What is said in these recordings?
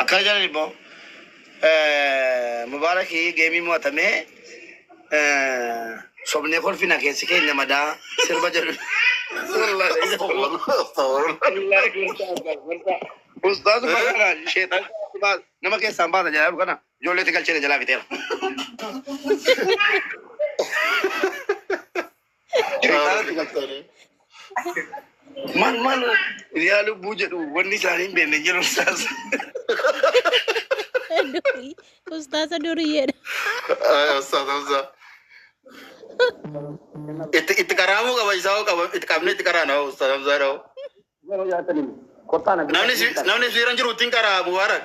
Akkana jedhan immoo Mubaaraki geemii mo'atamee sobnee kolfina keessi keenya madaa sirba jedhu. Ustaaz Bakara sheexan nama keessaan baasa jedhaa jiru kana ijoollee itti galchee jalaa fixeera. Man man yaa lubbuu jedhu wanni isaanii hin beekne jiru isaas. Durii. Ustaasa duriyyeedha. Ustaas Hamzaa. Itti itti qaraamuu qaba isaa hoo qaba itti qabnee itti qaraana hoo Ustaas Hamzaa dha'u. Namni si- namni siira jiru ittiin qaraa Mubaarak.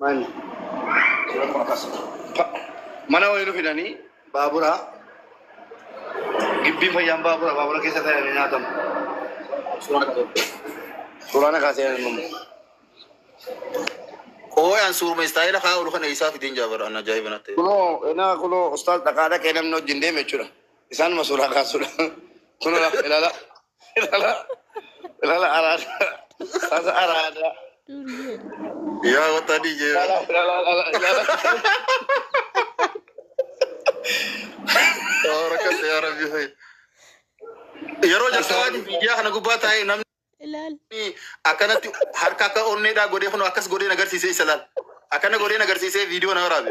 Maali? Mana wayii nu fidanii baaburaa gibbii fayyaan baabura baabura keessa taa'anii nyaatamu. Suuraan akkaa seenan immoo. Ooyaan suurma istaayila haa olu kana isaa fideen jaabara an ajaa'iba natti. Kunoo enaa kunoo ustaaz dhaqaa dhaqee namni wajjin deeme jechuudha. Isaanuma suuraa kaasudha. Kunoo ilaala. Ilala ilala araada sasa araada Duryee. Yaa wata di je. ilala ilala ilala ilala. Yaa rakas yaa rabbi hay. Yeroo jalqabaa di miidiyaa kana gubbaa taa'ee namni Ilaal. akkanatti harka akka onneedhaa godhee kun akkas godhee na agarsiisee isa laal. Akkana godhee na agarsiisee viidiyoo na waraabe.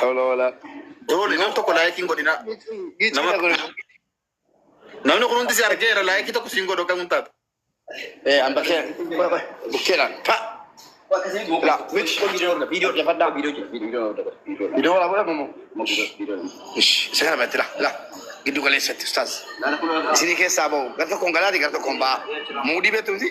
Hawla wala. Doole nam tokko laayikiin godhina. Nama namni kun hundi si argeera laayikii tokko siin godhu kamuun taata. Eh, an bakkee bukkeedhaan ka. La, miti. Viidiyoo dhefadhaa. Viidiyoo wala godha mamu. Isa kana batti la la. Giddu galeessatti ustaaz. Isinii keessaa bahu. Gar tokkoon galaati gar tokkoon ba'a. Muudii beektu miti.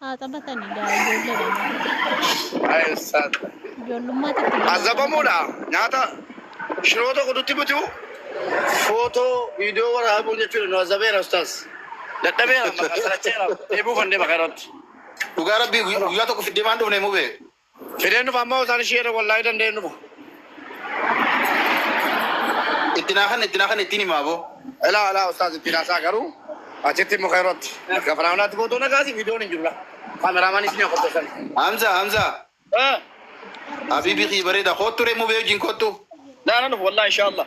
Haa taphatani gaa ijoolleedha malee. Ay, sa- Ijoollummaatti itti deemaa Azabamuudha. Nyaata shiroo tokko nutti butu. Footoo viidiyoo waraabuu jechuudha nu azabeera ustaas. Dadhabeera maqaa saracheera. Eebuu kan deema kanatti. Dhugaa rabbii guyyaa tokko fiddee maan dhufne mubee. Fideen dhufa amma osaan ishii jedhe wallahi danda'een dhufa. Itti naa kanna itti naa kanna ittiin himaa boo. Elaa elaa ustaaz ittiin haasaa garuu achitti immoo keerootti akka firaawnaatti footoo nagaasi viidiyoon hin jiru laa kaameraamaanii isin yaa qopheessan. Hamza Hamza Ee habibi kii bareda kottu re mube wajjin kottu. Laa nan dhufa wallahi inshaa Allah.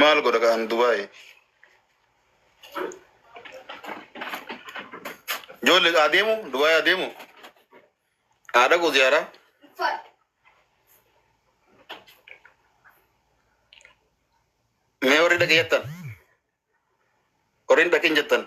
maal godha kan dubaay jolle adeemu dubaay adeemu haa dhaqu ziyaaraa mee warri dhaqeeyattan Warri hin dhaqin jettan.